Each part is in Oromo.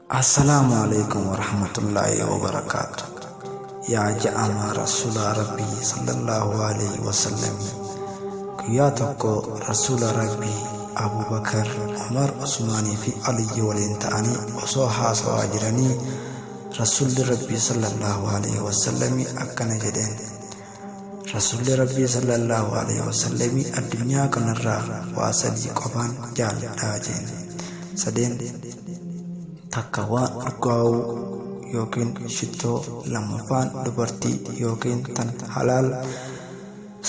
Assalaamu alaikum warahmatullaahi wabarakaatu yaa ja'amaa rasuulaa rabbii sallallahu alaihi wasallamii guyyaa tokko rasuula rabbii abubakar umar usmaanii fi aliyyi waliin ta'anii osoo haasawaa jiranii rasuulli rabbii sallallahu alaihi wasallamii akkana jedheen Rasuulli Rabbii sallallahu alaihi wasallami addunyaa kanarraa waa sadii qofaan jaaladhaa jeen. Sadeen takka waan urgaa'uu yookiin shittoo lammaffaan dubartii yookiin tan halaal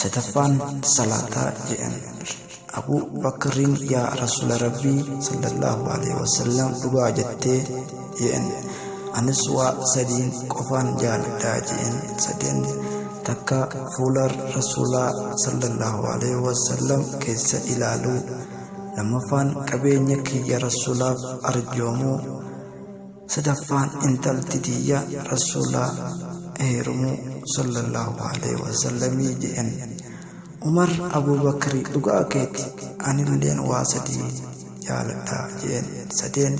sadaffaan salaataa jedhan. Abu Bakrin ya Rasula Rabbi sallallahu alaihi wasallam dhugaa jatte jeen anis waa sadiin qofaan jaaladhaa jeen sadeen takka fuula Rasulaa sallallahu alaihi wasallam keessa ilaaluu lammaffaan qabeenya kiyya Rasulaaf arjoomuu sadaffaan intalti tiyya Rasulaa heerumuu sallallahu alaihi wasallamii jeen Umar Abubakri dhugaa keeti anilleen waa sadii jaaladha je'een sadeen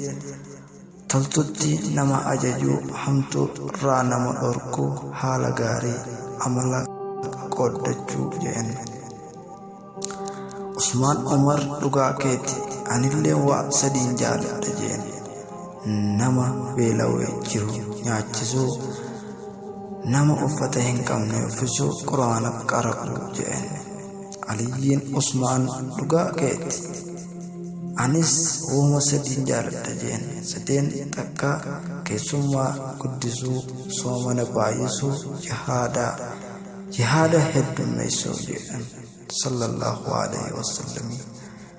toltutti nama ajajuu hamtu rraa nama dhorku haala gaarii amala qooddachuu je'een Usmaan Umar dhugaa keeti anilleen waa sadiin jaaladha je'een nama beela'e jiru nyaachisuu nama uffata hin qabne uffisuu quraana qara'u jedheen aliyyiin usmaan dhugaa keetti anis uuma sadiin jaaladha jeen sadeen takka keessummaa guddisuu soomana baay'isuu jihaadaa jihaada heddummeessuu jedhan sallallahu alaihi wasallamii